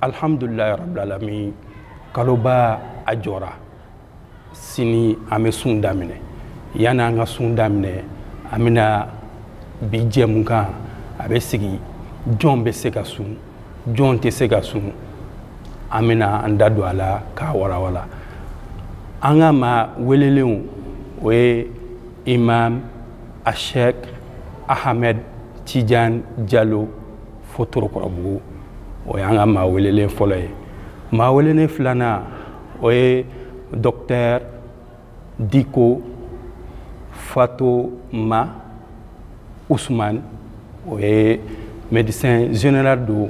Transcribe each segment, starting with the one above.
alihamdulilayi rabilalamin kaloba a jɔra sini an bɛ sun daminɛ yanni an ka sun daminɛ an bɛna bi jɛmukan a bɛ sigi jɔn bɛ se ka sun jɔn tɛ se ka sun an bɛna an da don a la k'a walawala an ka maa welelenw o ye imam ashek ahmed tijan jalo fo torokɔrɔbugu o y'an ka maa welelen fɔlɔ ye maa welelen filanan o ye dɔktɛr diko fatoma usumani o ye médecin général don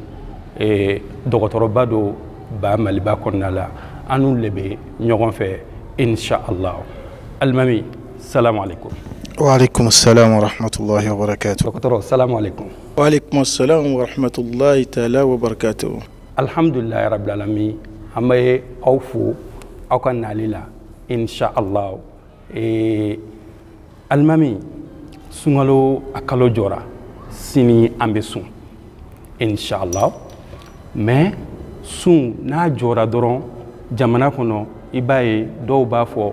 eh, dɔgɔtɔrɔba don ba maliba kɔnɔna la an n'u le bɛ ɲɔgɔn fɛ inshallah alimami salamu aleykum waaleykum salam warahmatulahi wabarakatu dɔgɔtɔrɔ salamu aleykum Walekum salam wa rahmatulahi taala wa barakatuhu. Alhamdulilayi rabil alamin an bɛ aw fo aw ka nali la insha allah ee alimami sunkalo a kalo jɔra sini an bɛ sun insha allah mais sun n'a jɔra dɔrɔn jamana kɔnɔ i b'a ye dɔw b'a fɔ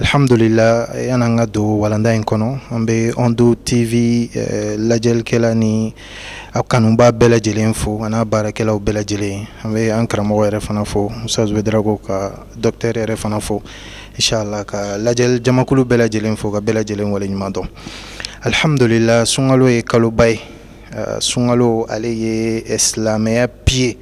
alhamdulila yanni an ka don walanda in kɔnɔ an bɛ ondo tv eh, lajɛlikɛla ni a kanubaa bɛɛ lajɛlen fo an'a baarakɛlaw bɛɛ lajɛlen an bɛ an karamɔgɔ yɛrɛ fana fo musa zubedarago ka dɔktɛr yɛrɛ fana fo inshallah ka lajɛli jamakulu bɛɛ lajɛlen fo ka bɛɛ lajɛlen waleɲuman dɔn alhamdulila sunkalo ye kaloba ye eh, sunkalo ale ye silamɛya pilier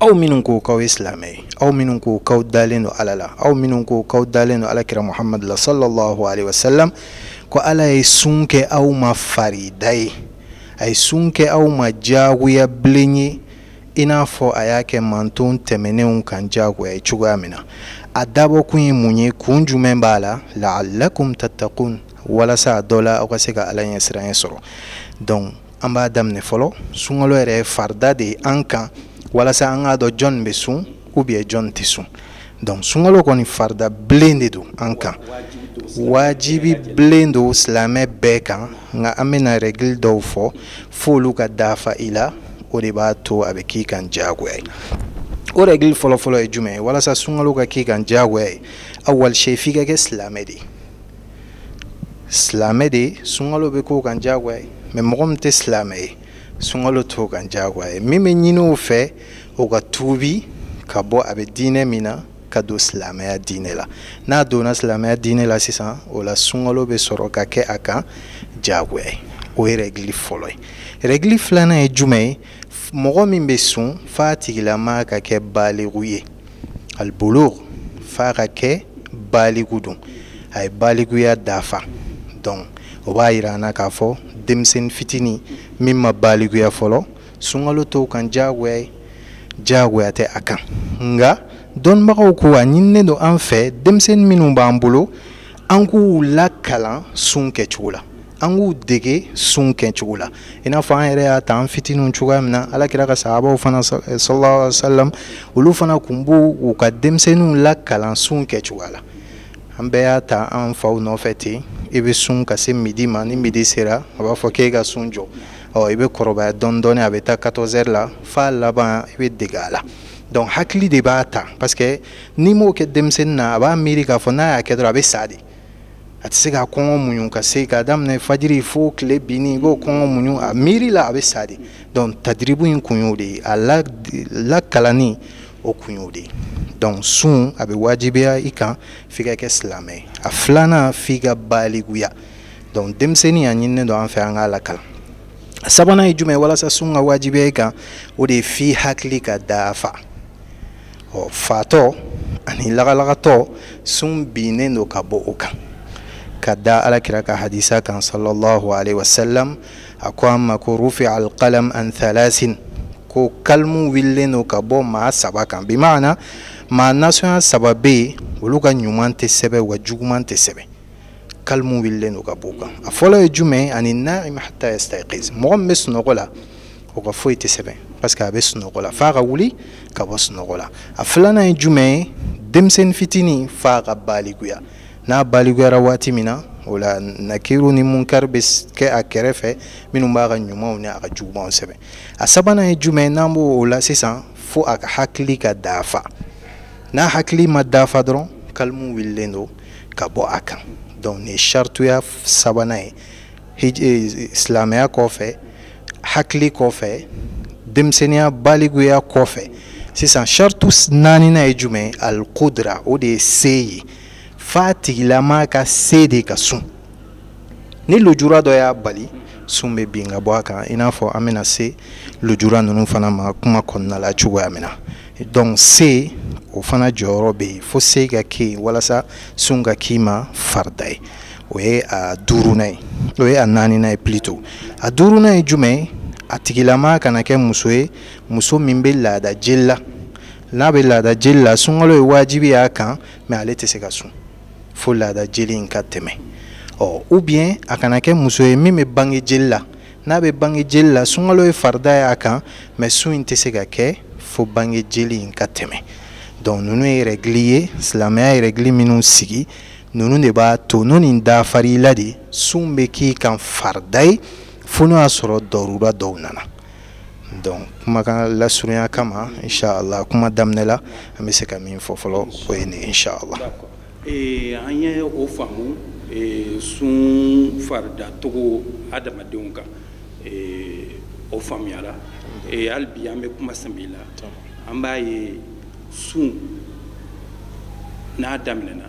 aw minnu ko k'aw ye silamɛ ye aw minnu ko k'aw dalen don ala la aw minnu ko k'aw dalen don ala kira muhamadu la sallallahu alaihi wasallam ko ala ye sun kɛ aw ma farida ye a ye sun kɛ aw ma diyagoya bilen ye i n'a fɔ a y'a kɛ manton tɛmɛnenw kan diyagoya ye cogoya min na a dabɔkun ye mun ye kun jumɛn b'a la laalakum tatakun walasa a dɔ la aw ka se ka ala ɲɛsiranya sɔrɔ donc an b'a daminɛ fɔlɔ sunkalo yɛrɛ farida de ye an kan walasa an k'a dɔn jɔn bɛ sun ou bien jɔn tɛ sun donc sunkalo kɔni farida bilen de don an kan wajibi bilen don silamɛ bɛɛ kan nka an bɛna règle dɔw fɔ f'olu ka dafa i la o de b'a to a bɛ k'i kan diyagoya ye o règle fɔlɔfɔlɔ ye jumɛn ye walasa sunkalo ka k'i kan diyagoya ye awal sey f'i ka kɛ silamɛ de ye silamɛ de ye sunkalo bɛ k'o kan diyagoya ye mais mɔgɔ min tɛ silamɛ ye sunkalo t'o kan diyagoya ye min bɛ ɲini o fɛ o ka tuubi ka bɔ a bɛ diinɛ min na ka don silamɛya diinɛ la n'a donna silamɛya diinɛ la sisan o la sunkalo bɛ sɔrɔ ka kɛ a kan diyagoya ye o ye rɛgili fɔlɔ ye rɛgili filanan ye jumɛn ye mɔgɔ min bɛ sun f'a tigilama ka kɛ baaligu ye alibulugu f'a ka kɛ baaligu don a ye baaliguya dafa donc o b'a yira an na k'a fɔ denmisɛnnin fitinin min ma baaliguya fɔlɔ sunkalo t'o kan diyagoya ye diyagoya tɛ a kan nka dɔnnibagaw ko a ɲininen don an fɛ denmisɛnnin minnu b'an bolo an k'u lakalan sun kɛcogo la an k'u dege sun kɛcogo la i n'a fɔ an yɛrɛ y'a ta an fitininw cogoya min na ala kira ka sahabaw fana eh, sallallahu alaihi wasallam olu fana kun b'u u ka denmisɛnninw lakalan sun kɛcogoya la an bɛɛ y'a ta an faw nɔfɛ ten i bɛ sun ka se midi ma ni midi sera a b'a fɔ k'i ka sun jɔ ɔ i bɛ kɔrɔbaya dɔɔni dɔɔni a bɛ taa 14 heures la f'a laban i bɛ dege a la donc hakili de b'a ta parce que n'i m'o kɛ denmisɛnnin na a b'a miiri k'a fɔ n'a y'a kɛ dɔrɔn a bɛ sa de a tɛ se ka kɔngɔ muɲu ka se k'a daminɛ fajiri fo tile binni i b'o kɔngɔ muɲu a miiri la a bɛ sa de donc tadiribu in kun y'o de ye a la lakalanni o kun y'o de ye donc sun a bɛ wajibiya i kan f'i ka kɛ silamɛ ye a filanan f'i ka baliguya donc denmisɛnnin a ɲininen don an fɛ an k'a lakalan sabanan ye jumɛn ye walasa sun ka wajibiya i kan o de ye f'i hakili ka dafa ɔ fatɔ ani lagalagatɔ sun binnen don ka bɔ o kan ka da alakira ka hadisa kan sallallahu alaihi wasallam a ko an ma ko rufia alqalam an thalasin ko kalimu wililen don ka bɔ maa saba kan bimaana maa nasɔnya saba bɛ yen olu ka ɲuman tɛ sɛbɛn wa juguman tɛ sɛbɛn kalimu wulilen don ka b'o kan a fɔlɔ ye jumɛn ani naim hata yastaiqiz mɔgɔ min bɛ sunɔgɔ la o ka foyi tɛ sɛbɛn parce que a bɛ sunɔgɔ la f'a ka wuli ka bɔ sunɔgɔ la a filanan ye jumɛn ye denmisɛnnin fitinin f'a ka balikuya n'a balikuyara waati min na o la nakiru ni munkari bɛ kɛ a kɛrɛfɛ minnu b'a ka ɲumanw ni a ka jugumanw sɛbɛn a sabanan ye jumɛn ye n'an bɔ o la sisan fo a ka hakili ka dafa n'a hakili ma dafa dɔrɔn kalimu wulilen don ka bɔ a kan donc nin ye sarituya sabanan ye hij eh, silamɛya kɔfɛ hakili kɔfɛ denmisɛnniya baliguya kɔfɛ sisan saritu naaninan ye jumɛn ye alikudra o de ye se ye f'a tigilama ka se de ka sun ni lujura dɔ y'a bali sun bɛ bin ka bɔ a kan i n'a fɔ an bɛna se lujura ninnu fana ma kuma kɔnɔna la cogoya min na donc se o fana jɔyɔrɔ bɛ yen fo se ka kɛ yen walasa sun ka k'i ma farida ye o ye a duurunan ye o ye a naaninan ye plutôt a duurunan ye jumɛn ye a tigilama kana kɛ muso ye muso min bɛ laada jeli la n'a bɛ laada jeli la sunkalo ye wajibi y'a kan mais ale tɛ se ka sun fo laada jeli in ka tɛmɛ ɔ ou bien a kana kɛ muso ye min bɛ bange jeli la n'a bɛ bange jeli la sunkalo ye farida ye a kan mɛ sun in tɛ se ka kɛ fo bange jeli in ka tɛmɛ donc ninnu ye rɛgili ye silamɛya ye rɛgili minnu sigi ninnu de b'a to n'o nin dafar'i la de sun bɛ k'i kan farida ye fo n'o y'a sɔrɔ dɔrura dɔw nana donc kumakan lasurunya kama inshallah kuma daminɛ la an bɛ se ka min fɔ fɔlɔ o ye nin inshallah eh, an ye o faamu eh, sun faridacogo adamadenw kan eh, o faamuyara hali bi an bɛ kuma sɛbɛ la an b'a ye sun n'a daminɛna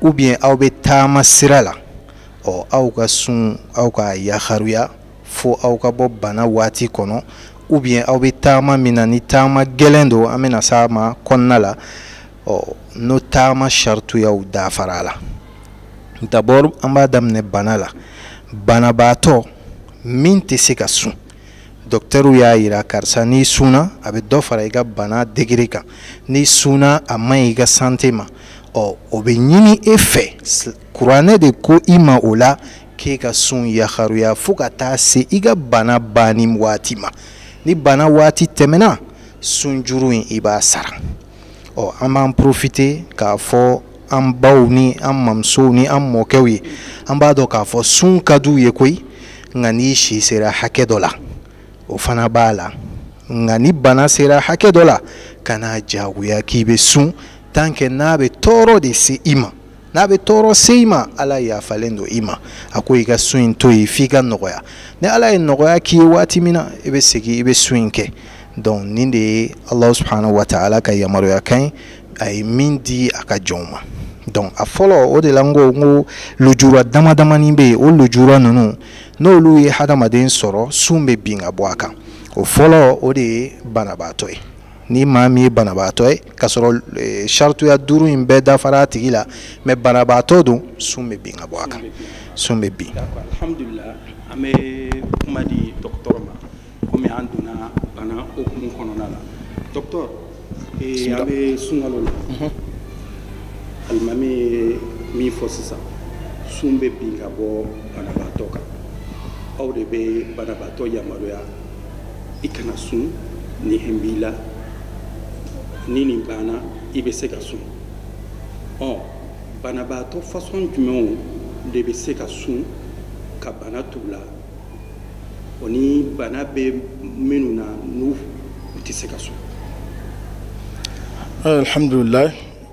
ou bien aw bɛ taama sira la ɔ aw ka sun aw k'a yaharuya fo aw ka bɔ bana waati kɔnɔ ou bien aw bɛ taama min na ni taama gɛlɛn don an bɛna s'a ma kɔnɔna la ɔ n'o taama sarituyaw dafara la d'abord an b'a daminɛ bana la banabaatɔ min tɛ se ka sun dɔkitɛriw y'a yira karisa n'i sunna a bɛ dɔ fara i ka bana degere kan n'i sunna a man ɲi i ka sante ma ɔ o bɛ ɲini e fɛ kuranɛ de ko i ma o la k'e ka sun yaharuya fo ka taa se i ka bana banni waati ma ni bana waati tɛmɛna sunjuru in i b'a sara ɔ an b'an porofite k'a fɔ an baw ni an mamusow ni an mɔkɛw ye an b'a dɔn k'a fɔ sun ka d'u ye koyi nka n'i si sera hakɛ dɔ la o fana b'a la nka ni bana sera hakɛ dɔ la kan'a jagoya k'i bɛ sun tan kɛ n'a bɛ tɔɔrɔ de se i ma n'a bɛ tɔɔrɔ se i ma ala yafalen don i ma a ko i ka sun in to yen f'i ka nɔgɔya ni ala ye nɔgɔya k'i ye waati min na i bɛ segin i bɛ sun in kɛ donc nin de ye ala subhanahu wa taala ka yamaruya kan ye a ye min di a ka jɔnw ma donc a fɔlɔ o de la n ko n ko lujura dama damani bɛ yen o lujura ninnu n'olu ye hadamaden sɔrɔ sun bɛ bin ka bɔ a kan o fɔlɔ o de ye banabaatɔ ye ni maa min ye banabaatɔ ye k'a sɔrɔ eh, sarituya duuru in bɛɛ dafara a tigi la mɛ banabaatɔ don sun bɛ bin ka bɔ a kan sun bɛ bin. alhamdulilah an bɛ kuma di dɔgɔtɔrɔ ma komi an donna bana hukumu kɔnɔna la dɔgɔtɔrɔ eh, an bɛ sunkalo la mhm. alimami ye min fɔ sisan sun bɛ bin ka bɔ banabaatɔ kan aw de bɛ banabaatɔ yamaruya. i kana sun ni hɛn b'i la ni nin banna i bɛ se ka sun ɔ banabaatɔ fasɔn jumɛnw de bɛ se ka sun ka bana to u la o ni bana bɛ minnu na n'u tɛ se ka sun alhamdulilayi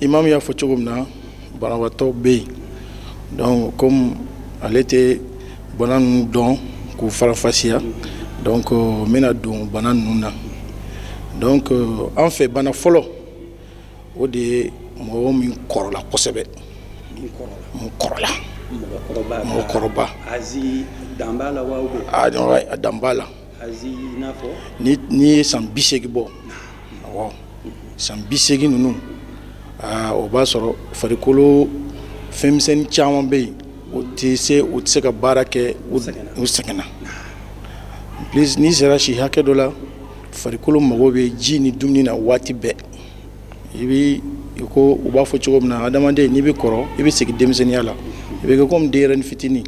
imamu y'a fɔ cogo min na banabaatɔ bɛ yen donc comme ale tɛ bana ninnu dɔn k'u faranfasiya donc euh, n bɛna don bana ninnu na donc euh, an fɛ bana fɔlɔ o de ye mɔgɔ min kɔrɔla kosɛbɛ min kɔrɔla mɔgɔkɔrɔba a dan b'a la n'i ye san bi seegin bɔ san bi seegin ninnu o b'a sɔrɔ farikolo fɛnmisɛn caman bɛ yen u tɛ se u tɛ se ka baara kɛ u sɛgɛnna en plus n'i sera si hakɛ dɔ la farikolo mago bɛ ji ni dumuni na waati bɛɛ i bɛ i ko u b'a fɔ cogo min na adamaden n'i bɛ kɔrɔ i bɛ segin denmisɛnninya la i bɛ kɛ komi denyɛrɛni fitinin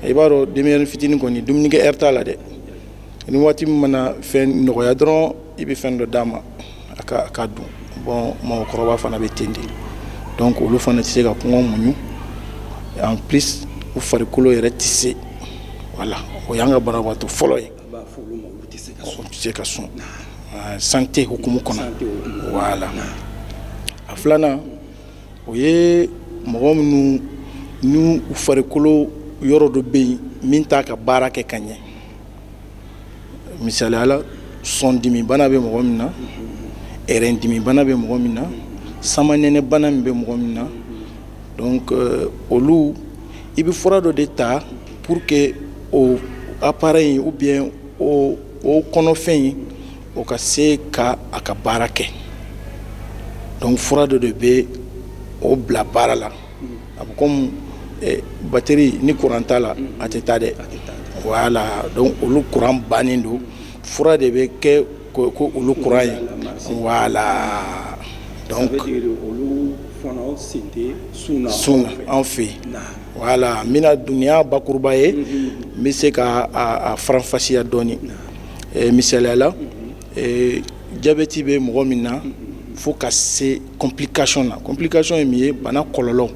i b'a dɔn denyɛrɛni fitinin kɔni dumunikɛ ɛri t'a la dɛ ni waati min mana fɛn nɔgɔya dɔrɔn i bɛ fɛn dɔ d'a ma a ka a k'a dun bon mɔgɔkɔrɔba fana bɛ ten de donc olu fana tɛ se ka kɔngɔ muɲu en plus u farikolo yɛrɛ tɛ se voilà o y'an ka banabagatɔ fɔlɔ ye se ka sun ah, santé hukumu kɔnɔ voilà a filanan o ye mɔgɔ minnu ni u farikolo yɔrɔ dɔ bɛ yen min t'a ka baara kɛ ka ɲɛ misaliya la sɔndimibana bɛ mɔgɔ min na ɛrɛndimibana bɛ mɔgɔ min na samanɛnɛbana min bɛ mɔgɔ min na donc euh, olu i bɛ fura dɔ de ta pour que o appareil ou bien o o kɔnɔfɛn in o ka se ka a ka baara kɛ donc fura dɔ de bɛ o bila baara la a bɛ komi eh, bateri ni kuran t'a la a tɛ taa dɛ voilà donc olu kuran bannen don fura de bɛ kɛ ko ko olu kuran ye voilà donc olu fana sen tɛ sun na sun na an fɛ yen voilà n bɛna dunuya bakuruba ye n bɛ se ka a faranfasiya dɔɔni misaliya la jabɛti bɛ mɔgɔ min na fo ka se complication na complication ye min ye bana kɔlɔlɔ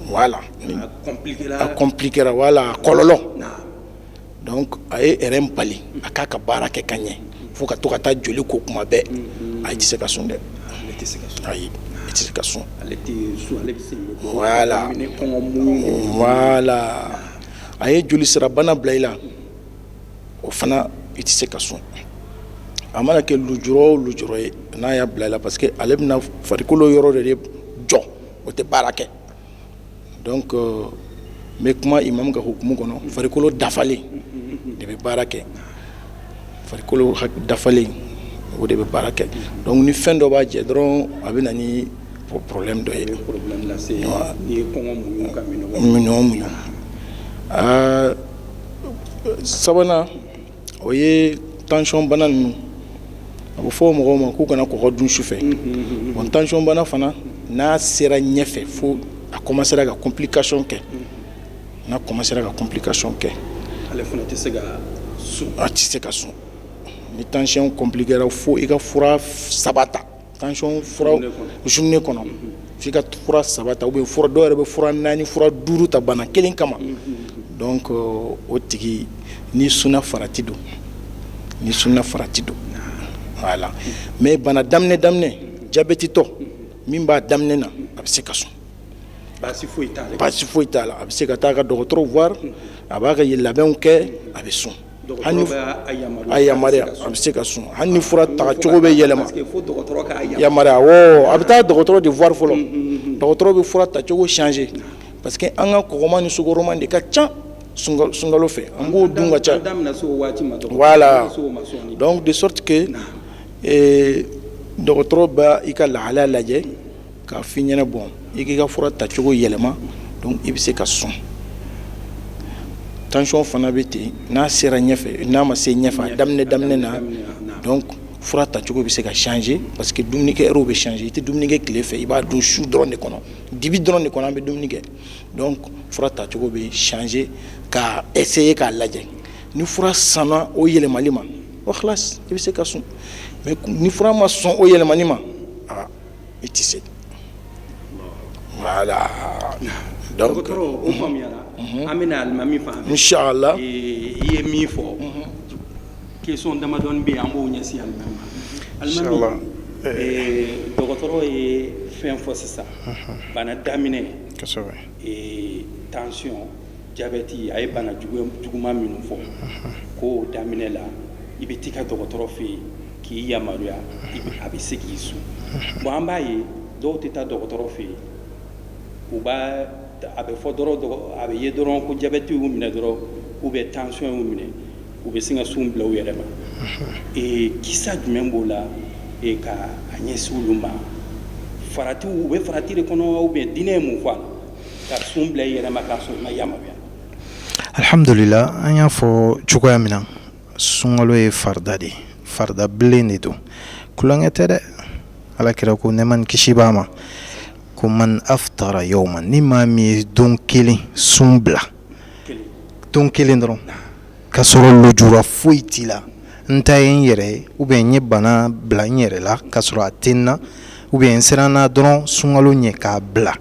voilà a compliquera wala kɔlɔlɔ donc a ye ɛrɛn bali a k'a ka baara kɛ ka ɲɛ fo ka to ka taa joli ko kuma bɛɛ mm-hmm. a tɛ se ka sun dɛ ayi i tɛ se ka sun voilà voilà a ye jolisira bana bila i la o fana i tɛ se ka sun a mana kɛ lujura o lujura ye n'a y'a bila i la parce que ale bɛna farikolo yɔrɔ de jɔ o tɛ baara kɛ donc euh, n bɛ kuma imamu ka hukumu kɔnɔ farikolo dafalen de bɛ baara kɛ farikolo dafalen o de bɛ baara kɛ donc ni fɛn dɔ b'a jɛ dɔrɔn a bɛ na ni problème dɔ ye minɔn muɲu sabanan o ye tansiyɔn bana ninnu a bɛ fɔ mɔgɔw ma k'u kana kɔgɔ dun su fɛ bon tansiyɔn bana fana n'a sera ɲɛfɛ fo a kɔmasera ka complication kɛ n'a kɔmasera ka complication kɛ ale fana tɛ se ka sun a tɛ se ka sun ni tansiyɔn compliquera fo i ka fura saba ta tension fura journée kɔnɔ f'i ka fura saba ta ou bien dɔw yɛrɛ bɛ fura naani fura duuru ta bana kelen kama donc euh, o tigi n'i sunna farati don n'i sunna farati don voilà mais bana daminɛ daminɛ jabɛtitɔ min b'a daminɛ na a bɛ se ka sun baasi foyi t'a la baasi foyi t'a la a bɛ se ka taa a ka dɔgɔtɔrɔ voir a b'a ka labɛnw kɛ a bɛ sun a yamaruya a bɛ se ka sun hali ni fura ta cogo bɛ yɛlɛma yamaruya awɔ a bɛ taa dɔgɔtɔrɔ de voir fɔlɔ dɔgɔtɔrɔ bɛ fura ta cogo changer parce que an ka kɔgɔma ni sukaroma de ka ca sunkalo fɛ an b'o dun ka ca voilà donc de sorte que dɔgɔtɔrɔ bɛ i ka lahalaya lajɛ k'a f'i ɲɛna bon i k'i ka fura tacogo yɛlɛma donc i bɛ se ka sun tansiyɔn fana bɛ ten n'a sera ɲɛfɛ n'a ma se ɲɛfɛ a daminɛ daminɛ na donc fura tacogo bɛ se ka changer parce que dumunikɛ heure bɛ changer i tɛ dumuni kɛ tile fɛ i b'a dun su dɔrɔn de kɔnɔ dibi dɔrɔn de kɔnɔ an bɛ dumuni kɛ donc fura tacogo bɛ changer ka essayer k'a lajɛ ni fura sɔnna o yɛlɛmali ma o xilasi i bɛ se ka sun mais ni fura ma sɔn o yɛlɛmani ma i tɛ se voilà donc dɔgɔtɔrɔ o faamuyara an bɛ na alimami fan fɛ inshallah i ye min fɔ question damadɔni bɛ yen an b'o ɲɛsin alimami ma alimami dɔgɔtɔrɔ ye fɛn fɔ sisan bana daminɛ kosɛbɛ tension jabɛti a ye bana juguman minnu fɔ ko daminɛ la i bɛ t'i ka dɔgɔtɔrɔ fɛ yen k'i yamaruya a bɛ se k'i sun bon an b'a ye dɔw tɛ taa dɔgɔtɔrɔ fɛ yen u b'a a bɛ fɔ dɔrɔn a bɛ ye dɔrɔn ko jabɛti y'u minɛ dɔrɔn u bɛ tansiyɔn y'u minɛ u bɛ sin ka sun bila u yɛrɛ ma kisa jumɛn b'o la ka a ɲɛsin olu ma farati u bɛ farati de kɔnɔ u bɛ diinɛ ye mun fɔ ka sun bila i yɛrɛ ma k'a sɔrɔ i ma yamaruya alihamudulila an y'a fɔ cogoya min na sunkalo ye farida de ye farida bilen de don tulonkɛ tɛ dɛ ala kira ko nɛma ni kisi b'a ma ko man aftara yawma ni maa min ye don kelen sun bila don kelen dɔrɔn ka sɔrɔ lujura foyi t'i la n ta ye n yɛrɛ ye ou bien n ye bana bila n yɛrɛ la ka sɔrɔ a tɛ n na ou bien n siranna dɔrɔn sunkalo ɲɛ k'a bila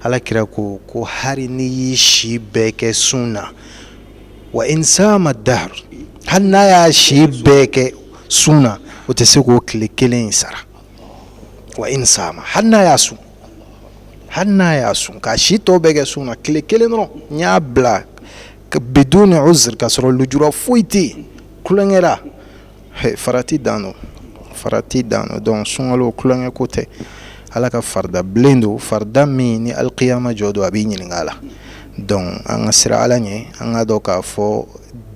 ala kira ko ko hali n'i y'i si bɛɛ kɛ sun na wa in sama dahr hali n'a y'a si bɛɛ kɛ sun na o tɛ se k'o tile kelen in sara wa in sama hali n'a y'a sun hali n'a y'a sun k'a si tɔ bɛɛ kɛ sun na tile kelen dɔrɔn n'i y'a bila biduni uzr k'a sɔrɔ lujura foyi tɛ yen tulonkɛ la farati dan don farati dan don donc sunkalo tulonkɛ ko tɛ ala ka farida bilen don farida min ni alikiyama jɔ don a b'i ɲininka a la donc an ka siran ala ɲɛ an k'a dɔn k'a fɔ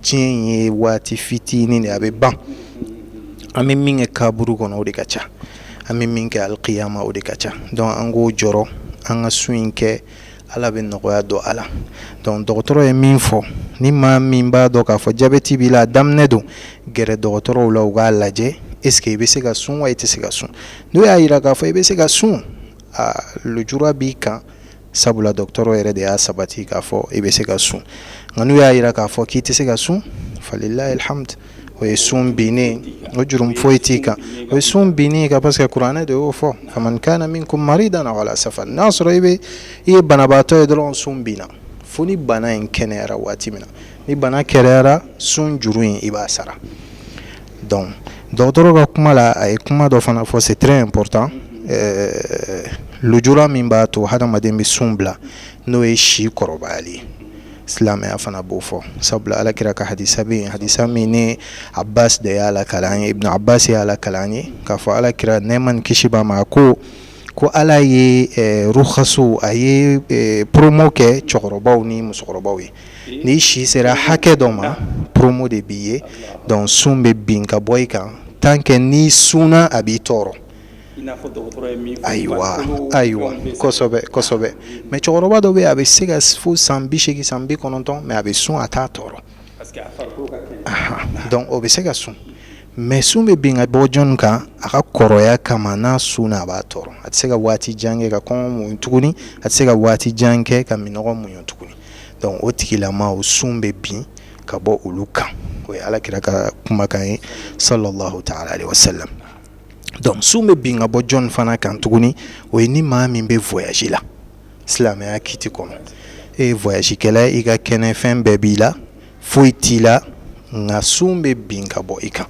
diɲɛ in ye waati fitinin de a bɛ ban an bɛ min kɛ kaburu kɔnɔ o de ka ca an bɛ min kɛ alikiyama o de ka ca donc an k'o jɔrɔ an ka sun in kɛ ala bɛ nɔgɔya don a la donc dɔgɔtɔrɔ ye min fɔ ni maa min b'a dɔn k'a fɔ jabɛti b'i la a daminɛ don gɛrɛ dɔgɔtɔrɔw la u k'a lajɛ est ce que i bɛ se ka sun wa i tɛ se ka sun n'u y'a yira k'a fɔ i bɛ se ka sun a lujura b'i kan sabula dɔgɔtɔrɔ yɛrɛ de y'a sabati k'a fɔ i bɛ se ka sun nka n'u y'a yira k'a fɔ k'i tɛ se ka sun falillahil hamdu o ye sun binnen o jurumu foyi t'i kan o ye sun bin i kan parce que kuranɛ de y'o fɔ faman kana minkum maridan aw ala safar n'a sɔrɔ i bɛ i ye banabaatɔ ye dɔrɔn sun binna fo ni bana in kɛnɛyara waati min na ni bana kɛnɛyara sun juru in i b'a sara donc dɔgɔtɔrɔ ka kuma la a ye kuma dɔ fana fɔ c'est très important ɛɛ lujura min b'a to hadamaden bɛ sun bila n'o ye si kɔrɔbayali ye silamɛya fana b'o fɔ sabula alakira ka hadisa bɛ yen hadisa min ibn abbas de y'a lakali an ye ibn abbas y'a lakali an ye k'a fɔ alakira nɛɛma ni kisi b'a ma a ko ko ala ye eh, ruhasu a ye eh, promo kɛ cɛkɔrɔbaw ni musokɔrɔbaw ye n'i si sera hakɛ dɔ ma promo de b'i ye donc sun bɛ bin ka bɔ i kan tant que n'i sunna a b'i tɔɔrɔ ayiwa ayiwa kosɛbɛ kosɛbɛ mais cɛkɔrɔba dɔ bɛ a bɛ se ka fo san bi segin san bi kɔnɔntɔn mais a bɛ sun a t'a tɔɔrɔ donc o bɛ se ka sun mais sun bɛ bin ka bɔ jɔn kan a ka kɔrɔya kama n'a sunna a b'a tɔɔrɔ a tɛ se ka waati jan kɛ ka kɔngɔ muɲu tuguni a tɛ se ka waati jan kɛ ka minnɔgɔ muɲu tuguni donc o tigilama o sun bɛ bin ka bɔ olu kan o ye ala kira ka kumakan ye salalahu taala alayhi wa salam donc sun bɛ bin ka bɔ jɔn fana kan tuguni o ye ni maa min bɛ voyage la silamɛya kiti kɔnɔ e ye voyage kɛla i ka kɛnɛ fɛn bɛɛ b'i la foyi t'i la nka sun bɛ bin ka bɔ i kan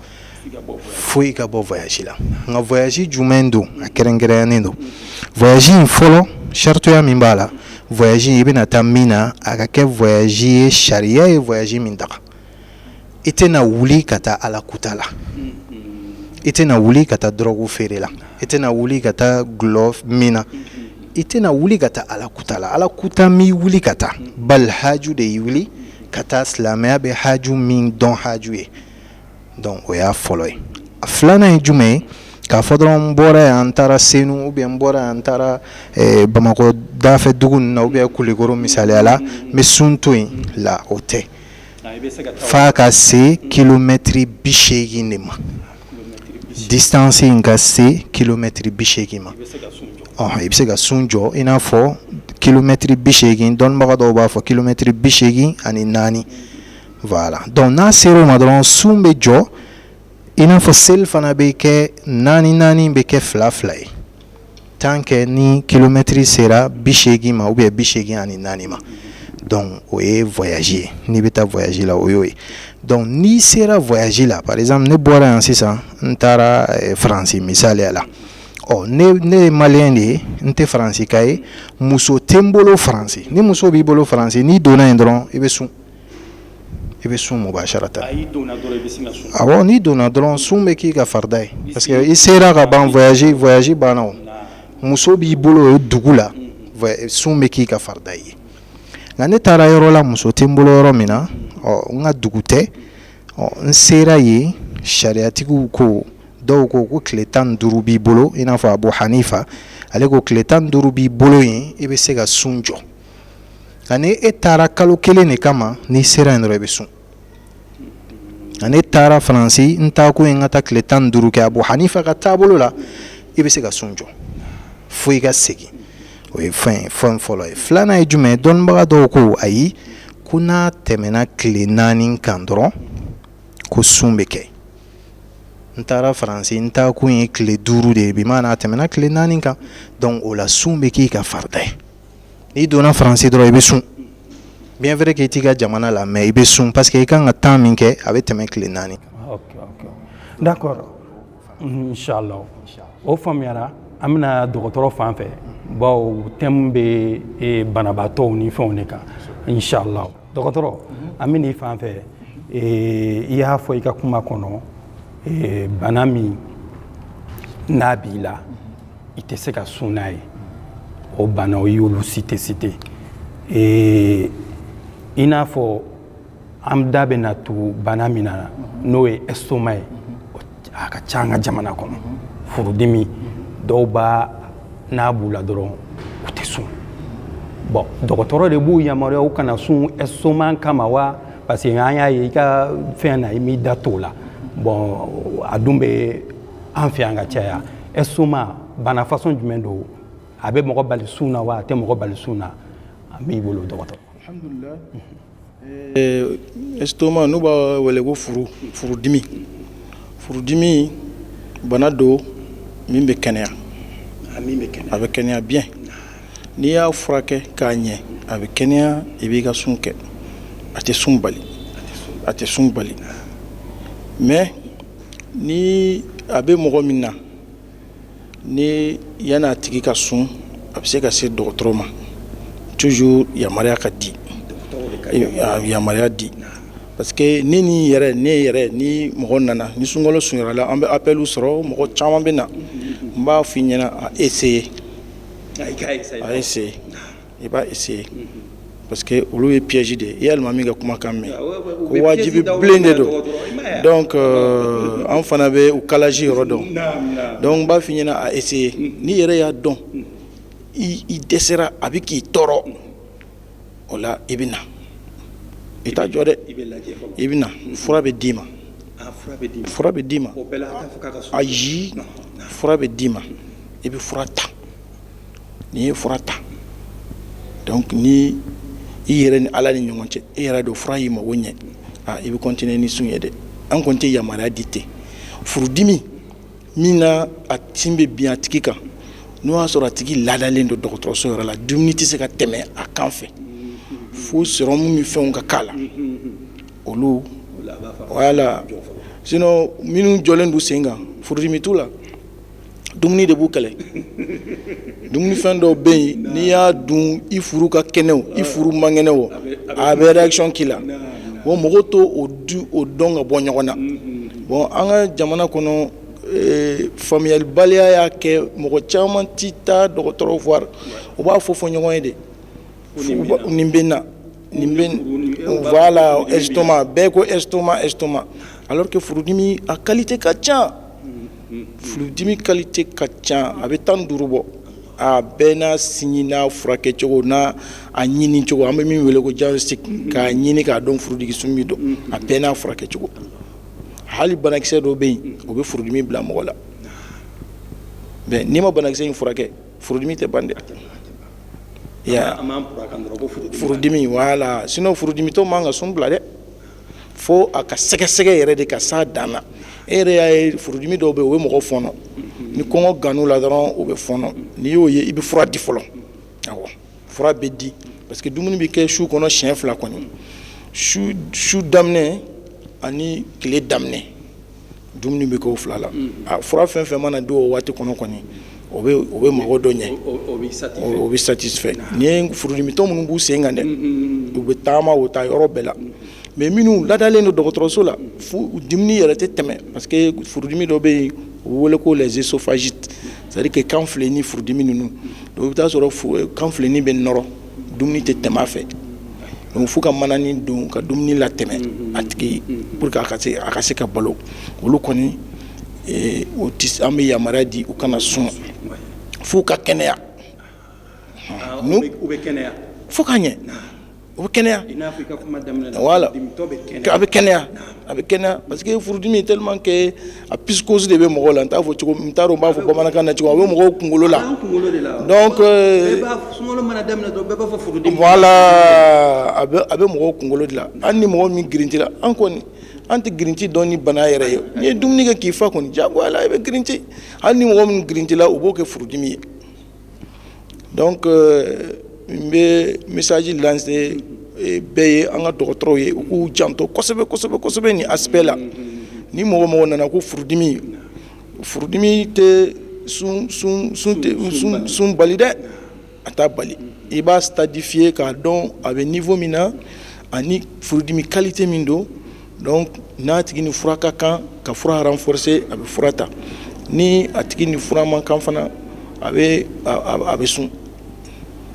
fo i ka bɔ voyage la nka voyage jumɛn don a kɛrɛnkɛrɛnyanen don voyage in fɔlɔ saritoya min b'a la voyage i bɛna taa min na a ka kɛ voyage ye sariya ye voyage min daga i tɛna wuli ka taa ala kuta la i tɛna wuli ka taa dɔrɔgu feere la i tɛna wuli ka taa dɔlɔ min na i tɛna wuli ka taa ala kuta la ala kuta m'i wuli ka taa bali haju de y'i wuli ka taa silamɛya bɛ haju min dɔn haju ye donc o y'a fɔlɔ ye a filanan ye jumɛn ye k'a fɔ dɔrɔn n bɔra yan n taara senu ou bien n bɔra yan n taara eh, bamakɔ dafɛ dugu ninnu na ou bien kulikoro misaliya la n bɛ sun to yen la o tɛ f'a ka se kilomɛtiri bi seegin de ma distance in ka se kilomɛtiri bi seegin ma i bɛ se ka sun jɔ i n'a fɔ kilomɛtiri bi seegin dɔnnibaga dɔw b'a fɔ kilomɛtiri bi seegin ani naani voilà donc n'a sera o ma dɔrɔn sun bɛ jɔ i n'a fɔ seli fana bɛ kɛ naani naani bɛ kɛ fila fila ye tant que ni kilomɛtiri sera bi seegin ma ou bien bi seegin ani naani ma donc o ye voyage ye n'i bɛ taa voyage la o y'o ye donc n'i sera voyage la par exemple ne bɔra yan sisan n taara eh, faransi misaliya la ɔ ne ne ye maliyɛn de ye n tɛ faransika ye muso tɛ n bolo faransi ni muso b'i bolo faransi n'i donna yen dɔrɔn i bɛ sun i bɛ sun mubasarata n'i donna dɔrɔn sun bɛ k'i ka farida ye parce que i sera ka ban voyage banna o muso b'i bolo o dugu la sun bɛ k'i ka farida ye nka ne taara yɔrɔ la muso tɛ n bolo yɔrɔ min na ɔ n ka dugu tɛ ɔ n sera yen sariyatigiw ko dɔw ko ko tile tan ni duuru b'i bolo i n'a fɔ abu hanifa ale ko tile tan ni duuru b'i bolo yen i bɛ se ka sun jɔ ani e taara kalo kelen de kama n'i sera yen dɔrɔn i bɛ sun ani n taara faransi n taa kun ye n ka taa tile tan ni duuru kɛ abu hanifa ka taabolo la i bɛ se ka sun jɔ fo i ka segin o ye fɛn ye fɛn fɔlɔ ye filanan ye jumɛn ye dɔnnibaga dɔw ko ayi ko n'a tɛmɛna tile naani kan dɔrɔn ko sun bɛ kɛ n taara faransi n taa kun ye tile duuru de ye bimaana a tɛmɛna tile naani kan donc o la sun bɛ k'i ka farida ye n'i donna faransi dɔrɔn i bɛ sun bien vrai k'i t'i ka jamana la mais i bɛ sun parce que i kan ka temps min kɛ a bɛ tɛmɛ tile naani d'accord inshallah o faamuyara an bɛ na dɔgɔtɔrɔ fan fɛ bawo thème bɛ e, banabaatɔw ni fɛnw de kan inshallah dɔgɔtɔrɔ an bɛ n'i fan fɛ e, i y'a fɔ i ka kuma kɔnɔ e, bana min n'a b'i la i tɛ se ka sun n'a ye o banaw i y'olu citer citer ee i n'a fɔ an da bɛna tugu bana min na n'o ye estoma ye a ka ca an ka jamana kɔnɔ furudimi dɔw b'a n'a b'u la dɔrɔn u tɛ sun bɔn dɔgɔtɔrɔ de b'u yamaruya u kana sun estoma in kama wa parce que an y'a ye i ka fɛn na i m'i da tugu o la bɔn a dun bɛ an fɛ yan ka caya estoma bana façon jumɛn don a bɛ mɔgɔ bali sun na wa a tɛ mɔgɔ bali sun na an b'i bolo dɔgɔtɔrɔ alhamdulillah estoma n'u b'a wele ko furu furudimi furudimi bana don min bɛ kɛnɛya a bɛ kɛnɛya bien n'i y'a furakɛ k'a ɲɛ a bɛ kɛnɛya i b'i ka sun kɛ a tɛ sun bali a tɛ sun bali mais ni a bɛ mɔgɔ min na ni yanni a tigi ka sun a bɛ se ka se dɔgɔtɔrɔ ma toujours yamaruya ka di yamaruya di parce que ne ni yɛrɛ ne yɛrɛ ni mɔgɔ nana ni sunkalo surunyara la an bɛ appeliw sɔrɔ mɔgɔ caman bɛ na n b'a f'i ɲɛna a essayer a essayer i b'a essayer parce que olu ye piège de ye i y'alimami ka kumakan mɛn ko wajibi bilen de don donc euh, an fana bɛ u kalaji yɔrɔ dɔn donc n b'a f'i ɲɛna a essayer n'i yɛrɛ y'a dɔn i dɛsɛra a bɛ k'i tɔɔrɔ o la i bɛ na i t'a jɔ dɛ i bɛ na fura bɛ d'i ma fura bɛ d'i ma ayi fura bɛ d'i ma i bɛ fura ta. n'i ye fura ta donc ni i yɛrɛ ni ala ni ɲɔgɔn cɛ i yɛrɛ don fura y'i mago ɲɛ a i bɛ kɔntine ni sun ye dɛ an kɔni tɛ yamaruya di ten furudimi min na a sun bɛ bin a tigi kan n'o y'a sɔrɔ a tigi ladalen don dɔgɔtɔrɔso yɛrɛ la dumuni tɛ se ka tɛmɛ a kan fɛ fo sɔrɔmu ni fɛnw ka k'a la olu wala sinɔn minnu jɔlen don u sen kan furudimi t'u la dumuni de b'u kɛlɛ dumunifɛn dɔw bɛ yen n'i y'a dun i furu ka kɛnɛ o i furu man kɛnɛ o a bɛ réaction k'i la bon mɔgɔw t'o o du o dɔn ka bɔ ɲɔgɔn na bon an ka jamana kɔnɔ eh, faamuyalibaliya y'a kɛ mɔgɔ caman ti taa dɔgɔtɔrɔ voir u b'a fɔ fɔ ɲɔgɔn ye de nin bɛ na nin bɛ voilà estomac bɛɛ ko estomac estomac alors que furudimi a qualité ka ca furudimi qualité ka ca a bɛ tan ni duuru bɔ a bɛɛ n'a signe n'a furakɛ cogo n'a a ɲini cogo an bɛ min wele ko diagnostic k'a ɲini k'a dɔn furudimi sugu min don a bɛɛ n'a furakɛ cogo hali banakisɛ dɔ bɛ yen o bɛ furudimi bila mɔgɔ la mais n'i ma banakisɛ in furakɛ furudimi tɛ ban dɛ ya furudimi voilà sinon furudimitɔ man kan sun bila dɛ fo a ka sɛgɛsɛgɛ yɛrɛ de ka s'a dan na e yɛrɛ y'a ye furudimi dɔw bɛ yen o bɛ mɔgɔ fɔnɔ ni kɔngɔ gann'u la dɔrɔn o bɛ fɔnɔ n'i y'o ye i bɛ fura di fɔlɔ awɔ fura bɛ di parce que dumuni bɛ kɛ su kɔnɔ siɲɛ fila kɔni su su daminɛ ani tile daminɛ dumuni bɛ k'o fila la a fura fɛn fɛn mana di o waati kɔnɔ kɔni o bɛ o bɛ mɔgɔ dɔ ɲɛ o bɛ satisfait nin ye furudimitɔ minnu b'u sen kan dɛ u bɛ taama o taa yɔrɔ bɛɛ la mais minnu ladalen don dɔgɔtɔrɔso la fo dumuni yɛrɛ tɛ tɛmɛ parce que furudimi dɔ bɛ yen u bɛ wele ko les œsophagites c'est à dire que kan fileni furudimi ninnu donc i bɛ taa sɔrɔ kan fileni bɛ nɔrɔ dumuni tɛ tɛmɛ a fɛ donc f'u ka mananin don ka dumuni latɛmɛ mm-hmm. a tigi mm-hmm. pour que a ka se a ka se ka balo olu kɔni eh, o tɛ an bɛ yamaruya di u kana sun f'u ka kɛnɛya ah, n'u u bɛ kɛnɛya fo ka ɲɛ o bɛ kɛnɛya wala a bɛ kɛnɛya a bɛ kɛnɛya parce que furudimi tellement que a psychose de bɛ mɔgɔw la n t'a fɔ cogo n t'a dɔn n b'a fɔ bamanankan na cogo a bɛ mɔgɔw kunkolo la donc euh, voilà a bɛ a bɛ mɔgɔw kunkolo de la hali ni mɔgɔ min girinti la an kɔni an tɛ girinti dɔn ni bana yɛrɛ ye n'i ye dumuni kɛ k'i fa kɔni diyagoya la i bɛ girinti hali ni mɔgɔ min girinti la o b'o kɛ furudimi ye donc euh, n bɛ message lancer eh, bɛɛ ye an ka dɔgɔtɔrɔw ye u k'u janto kosɛbɛ kosɛbɛ kosɛbɛ nin aspect la ni mɔgɔ mɔgɔ nana ko furudimi furudimi tɛ sun sun sun tɛ sun sun bali dɛ a t'a bali i b'a stadifier k'a dɔn a bɛ niveau min na ani furudimi qualité min don donc n'a tigi ni fura ka kan ka fura renforcer a bɛ fura ta ni a tigi ni fura man kan fana a bɛ a bɛ sun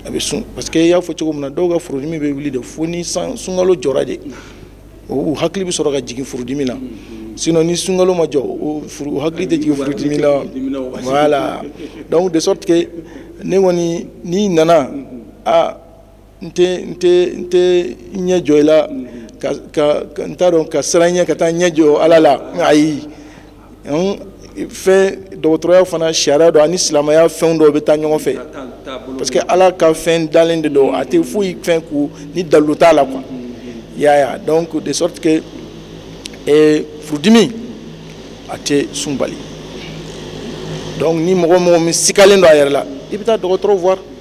a bɛ sun parce que i y'a fɔ cogo min na dɔw ka furudimi bɛ wuli de fo ni san sunkalo jɔra de u hakili bɛ sɔrɔ ka jigin furudimi la sinon ni sunkalo ma jɔ u hakili tɛ jigin furudimi la voilà donc de sorte que ne kɔni n'i nana a n tɛ n tɛ n tɛ ɲɛ jɔ i la ka ka n t'a dɔn ka siran ɲɛ ka taa ɲɛ jɔ ala la ayi fɛn dɔgɔtɔrɔya fana sariya don ani silamɛya fɛn dɔw bɛ taa ɲɔgɔn fɛ parce que ala ka fɛn dalen de don a tɛ foyi fɛn kɛ ni dalilu t'a la quoi yaya donc de sorte que eh, furudimi a tɛ sun bali donc ni mɔgɔ mɔgɔ min sikalen don a yɛrɛ la i bɛ taa dɔgɔtɔrɔ voir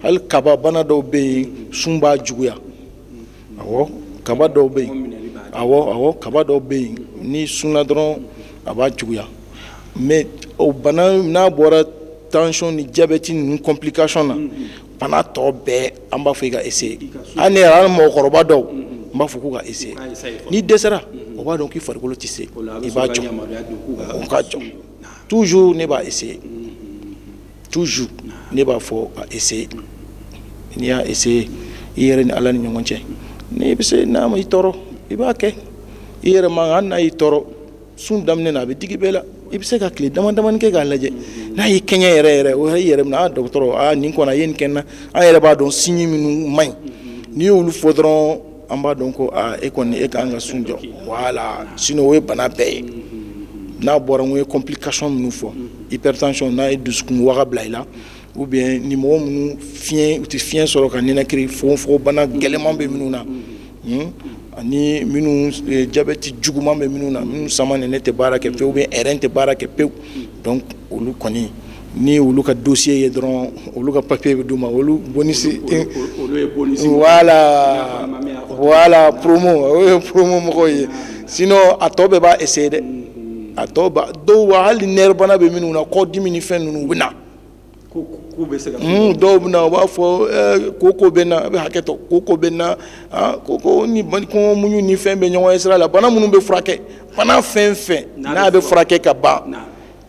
hali kaba bana dɔw bɛ yen sun b'a juguya awɔ kaba dɔw bɛ yen awɔ awɔ kaba dɔw bɛ yen n'i sunna dɔrɔn a b'a juguya mais o bana n'a bɔra tension ni diabète ninnu complication na bana tɔ bɛɛ an b'a fɔ i ka essayer hali ne yɛrɛ hali mɔgɔkɔrɔba dɔw n b'a fɔ k'u ka essayer n'i dɛsɛra o b'a dɔn k'i farikolo tɛ se i b'a jɔ o ka jɔ toujours ne b'a essayer. toujours ne b'a fɔ a essayer n'i y'a essayer i yɛrɛ ni ala ni ɲɔgɔn cɛ n'i bɛ se n'a ma i tɔɔrɔ i b'a kɛ i yɛrɛ man kan hali n'a y'i tɔɔrɔ sun daminɛ na a bɛ digi bɛɛ la i bɛ se ka tile dama damani kɛ k'a lajɛ n'a y'i kɛɲɛ yɛrɛ yɛrɛ o y'i yɛrɛ minɛ a dɔgɔtɔrɔ aa nin kɔni a ye nin kɛ n na an yɛrɛ b'a dɔn signe minnu man ɲi n'i y'olu fɔ dɔrɔn an b'a dɔn ko e kɔni i ka kan ka sun jɔ voilà sinon o ye bana bɛɛ ye n'a bɔra n ye complication minnu fɔ hypertension n'a ye dusukun waga bila i la o bɛ yen ni mɔgɔ minnu fiɲɛ u tɛ fiɲɛ sɔrɔ ka ninakili fogonfogon bana gɛlɛnman bɛ minnu na hmm? ani minnu e, jabɛti juguman bɛ minnu na minnu samanɛnɛ tɛ baara kɛ pewu ou bien rein tɛ baara kɛ pewu donc olu kɔni ni olu ka dossier ye dɔrɔn olu ka papier bɛ d'u ma olu bonus voilà voilà promo o ye promo mɔgɔw ye sinon a tɔ bɛɛ b'a essayer dɛ mm-hmm. a tɔ ba dɔw wa hali nerf bana bɛ minnu na kɔdimi ni fɛn ninnu u bɛ na mm, dɔw bɛ na u b'a fɔ eh, koko bɛ n na a bɛ hakɛ to koko bɛ n na ah, koko ni kɔngɔ muɲu ni fɛn bɛ ɲɔgɔn ye sira la bana minnu bɛ furakɛ bana fɛn fɛn n'a bɛ furakɛ ka ban.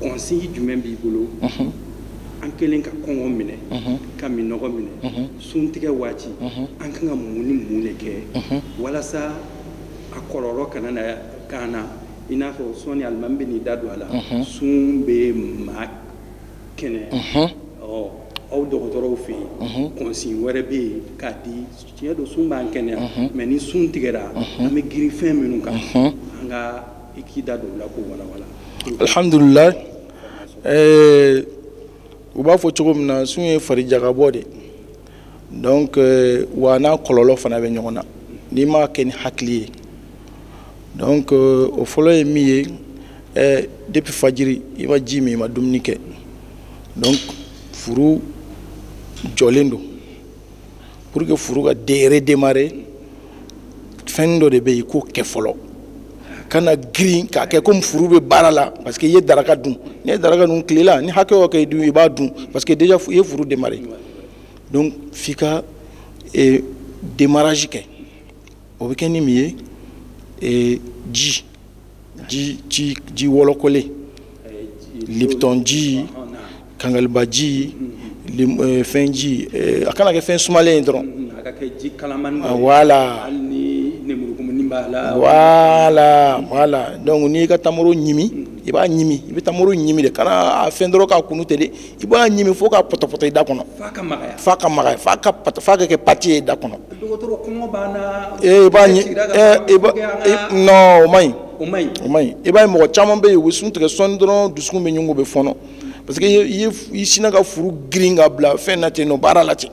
conseil jumɛn b'i bolo an kɛlen ka kɔngɔ minɛ ka minnɔgɔ minɛ suntigɛ waati an kan ka mun ni mun de kɛ walasa a kɔlɔlɔ kana na k'an na i n'a fɔ sɔɔni alimami bɛn'i da don a la sun bɛ maa kɛnɛya aw dɔgɔtɔrɔw fɛ yen conseil wɛrɛ bɛ yen k'a di tiɲɛ don sun b'an kɛnɛya mais ni sun tigɛra an bɛ girin fɛn minnu kan an ka i k'i da don o la k'o walawala alhamdulilayi eh, u b'a fɔ cogo min na sun ye fari jaka bɔ de donc eh, wa n'a kɔlɔlɔ fana bɛ ɲɔgɔn na n'i m'a kɛ ni hakili ye donc eh, o fɔlɔ ye min ye eh, depuis fajiri i ma ji min i ma dumuni kɛ donc furu jɔlen don pour que furu ka redémarrer fɛn dɔ de bɛ yen k'o kɛ fɔlɔ kana girin k'a kɛ komi furu bɛ baara la parce que i ye daraka dun n'i ye daraka dun tilela ni hakɛ o hakɛ i dun i b'a dun parce que déjà i ye furu démarrer donc f'i ka eh, démarrage kɛ o bɛ kɛ ni min ye eh, ji. ji ji ji wɔlɔkɔlen lipton ji kangaliba ji eh, fɛn ji eh, a kana kɛ fɛn sumalen ye dɔrɔn ah, wala wala wala donc n'i ka tamaro ɲimi i b'a ɲimi i bɛ tamaro ɲimi de kana a fɛn dɔrɔn k'a kunu ten dɛ i b'a ɲimi fo k'a pɔtɔpɔtɔ i da kɔnɔ f'a ka magaya f'a ka f'a ka kɛ pâte ye i da kɔnɔ ee i b'a ɲi ee non o man ɲi o man ɲi o man ɲi i b'a ye mɔgɔ caman bɛ yen u bɛ sun tigɛ sɔɔni dɔrɔn dusukun bɛ ɲugu bɛ fɔɔnɔ parce que i ye i sinna ka furu girin k'a bila fɛn na ten nɔ baara la ten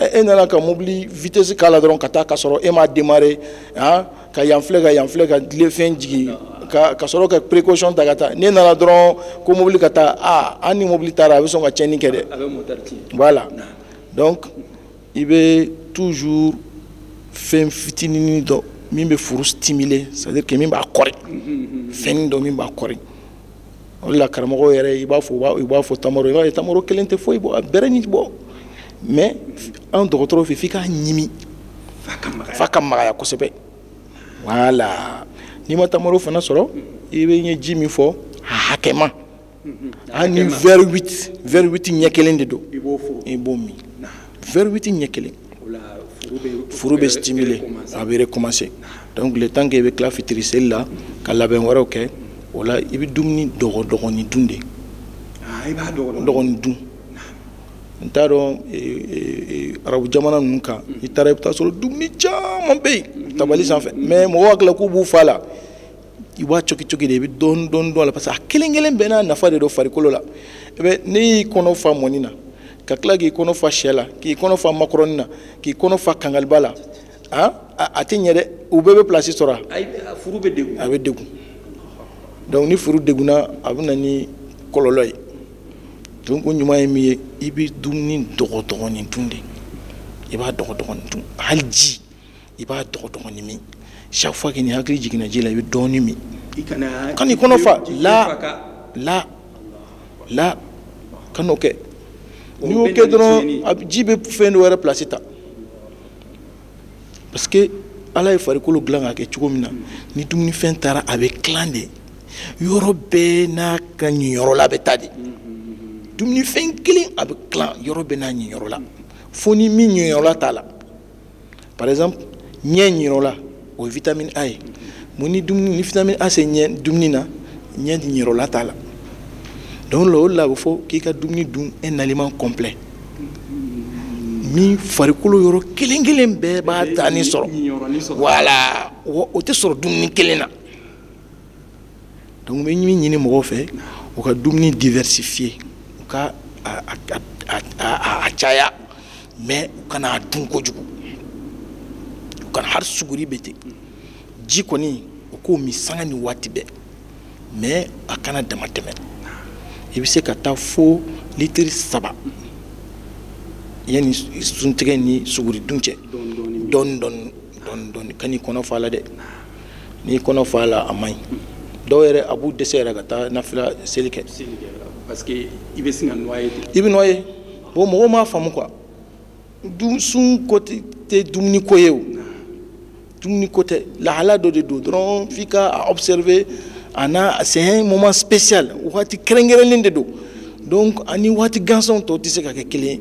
e nana ka mobili vitesse k'a la dɔrɔn ka taa ka sɔrɔ e m'a démarrer han ka yan filɛ ka yan filɛ ka le frein jigin ka ka sɔrɔ ka précaution ta ka taa n'e nana dɔrɔn ko mobili ka taa a an ni mobili taara a bɛ sɔn ka tiɲɛni kɛ dɛ voilà donc i bɛ toujours fɛn fitinin dɔ min bɛ furu stimuler c'est à dire que min b'a kɔri fɛnnin dɔ min b'a kɔri o de la karamɔgɔ yɛrɛ i b'a fɔ i b'a fɔ tamaro i b'a ye tamaro kelen tɛ foyi bɔ a bɛrɛ ni bɔ mais an dɔgɔtɔrɔw fɛ f'i k'a ɲimi f'a ka magaya kosɛbɛ wala n'i ma tamaro fana sɔrɔ i bɛ n ye ji min fɔ a hakɛma ani verre huit verre huit ɲɛ kelen de don i b'o min verre huit ɲɛ kelen furu bɛ stimuler a bɛ recommencer donc le temps que i bɛ tila fitiri seli la ka labɛn wɛrɛw kɛ o la i bɛ dumuni dɔgɔ dɔgɔnin dun de ah, dɔgɔnin dun n t'a dɔn e, e, e, arabu jamana ninnu kan i taara i bɛ taa sɔrɔ dumuni caman bɛ yen tabali sanfɛ mais mɔgɔw hakili la k'u b'u fa la i b'a coki coki de i bɛ dɔɔni dɔɔni don a la parce que a kelen kelen bɛɛ n'a nafa de don farikolo la i bɛ n'i y'i kɔnɔ fa mɔni na ka tila k'i kɔnɔ fa sɛ la k'i kɔnɔ fa makɔrɔni na k'i kɔnɔ fa kangaliba la han a tɛ ɲɛ dɛ u bɛɛ bɛ pilasi sɔrɔ a furu bɛ degun a bɛ degun donc ni furu degunna a bɛ na ni kɔlɔlɔ ye donc o ɲuman ye min ye i bɛ dumuni dɔgɔdɔgɔnin dun de i b'a dɔgɔdɔgɔnin dun hali ji i b'a dɔgɔdɔgɔnin min chaque fois que n'i hakili jiginna ji la i bɛ dɔɔni min kan'i kɔnɔ fa la la la kan'o kɛ n'i y'o kɛ dɔrɔn ji bɛ fɛn dɔ wɛrɛ place ta parce que ala ye farikolo dilan k'a kɛ cogo min na ni dumunifɛn taara a bɛ tilan de yɔrɔ bɛɛ n'a ka ɲiyɔrɔ la bɛ taa de dumunifɛn kelen a bɛ tilan yɔrɔ bɛɛ n'a ɲiyɔrɔ la fo ni min ɲiyɔrɔ la t'a la par exemple ɲɛ ɲiyɔrɔ la o ye vitamine a ye mun ni dumuni ni vitamine a tɛ yen dumuni na ɲɛ ɲiyɔrɔ la t'a la donc o de la o de la a bɛ fɔ k'i ka dumuni dun un aliment complet min farikolo yɔrɔ kelen kelen bɛɛ b'a tanin sɔrɔ voilà o tɛ sɔrɔ dumuni kelen na donc n bɛ min ɲini mɔgɔw fɛ u ka dumuni diversifier u ka a caya mais u kana a dun kojugu u kana hali suguri bɛ ten ji kɔni u k'o min sanga ni waati bɛɛ mais a kana dama tɛmɛ i bɛ se ka taa fo litiri saba yanni suntigɛ ni suguridun cɛ dɔɔni dɔɔni dɔɔni dɔɔni dɔɔni kan'i kɔnɔ fa a la dɛ. n'i kɔnɔ fa a la a man ɲi dɔw yɛrɛ a b'u dɛsɛ yɛrɛ ka taa nafila seli kɛ parce que i bɛ sin ka noyer i bɛ noyer bon mɔgɔw m'a faamu quoi sun ko tɛ dumuni ko ye o dumuni ko tɛ lahala dɔ de don dɔrɔn f'i ka a observer a n'a c'est un moment spécial waati kɛrɛnkɛrɛnlen de don donc a ni waati gansan tɔw tɛ se ka kɛ kelen ye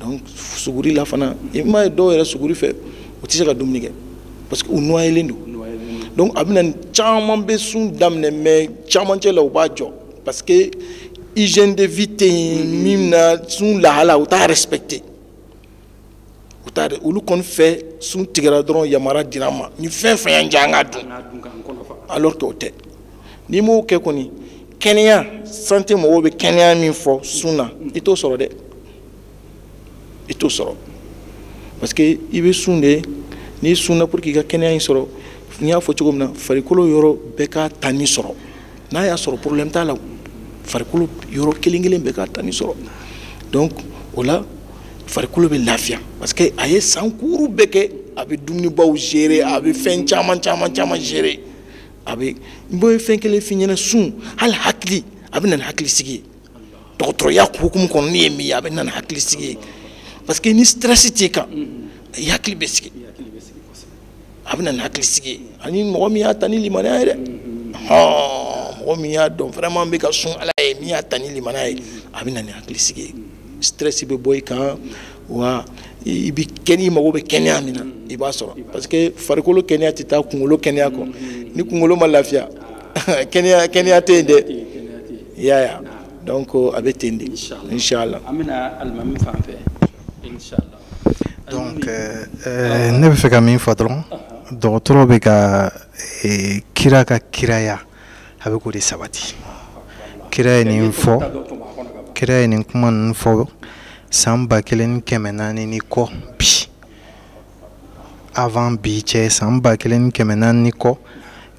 donc suguri la fana i m'a ye dɔw yɛrɛ suguri fɛ u tɛ se ka dumuni kɛ parce que u noyelen don donc a bɛna caman bɛ sun daminɛ mais camancɛ la u b'a jɔ parce que hygiène de vie tɛ yen min na sun lahala u t'a respecter u t'a dɔn olu kɔni fɛ sun tigɛra dɔrɔn yamaruya dira an ma ni fɛn fɛn y'an diya an k'a dun alors que o tɛ n'i m'o kɛ kɔni kɛnɛya santé mɔgɔw bɛ kɛnɛya min fɔ sun na i t'o sɔrɔ dɛ i t'o sɔrɔ parce que i bɛ sun de n'i sunna pour que i ka kɛnɛya in sɔrɔ n y'a fɔ cogo min na farikolo yɔrɔ bɛɛ k'a tanin sɔrɔ n'a y'a sɔrɔ problème t'a la farikolo yɔrɔ kelen kelen bɛ k'a ta nin sɔrɔ donc o la farikolo bɛ lafiya parce que a ye san kuuru bɛɛ kɛ a bɛ dumunibaw gérer a bɛ fɛn caman caman caman gérer a bɛ n bɛ fɛn kelen f'i ɲɛna sun hali hakili a bɛ na ni hakili sigi ye dɔgɔtɔrɔya hukumu kɔnɔ ne ye min ye a bɛ na ni hakili sigi ye parce que ni stress t'i kan i hakili bɛ sigi. a bɛ na ni hakili sigi ani mɔgɔ min y'a ta ni limaniya ye dɛ mɔgɔ min y'a dɔn vraiment bɛ ka sun ala ye min y'a ta ni limaniya ye a bɛ na ni hakili sigi ye stress bɛ bɔ i kan wa i bɛ kɛnɛ i mago bɛ kɛnɛya min na i b'a sɔrɔ parce que farikolo kɛnɛya tɛ taa kunkolo kɛnɛya kɔ ni kunkolo ma lafiya kɛnɛya kɛnɛya tɛ yen dɛ i y'a ye donc a bɛ ten de inshallah an bɛ na alimami fan fɛ inshallah donc euh, euh, ne bɛ fɛ ka min fɔ dɔrɔn dɔgɔtɔrɔ bɛ ka euh, kira ka kiraya a bɛ k'o de sabati kira ye nin fɔ kira ye nin kuma ninnu fɔ san ba kelen ni kɛmɛ naani ni kɔ bi avant bi cɛ san ba kelen ni kɛmɛ naani ni kɔ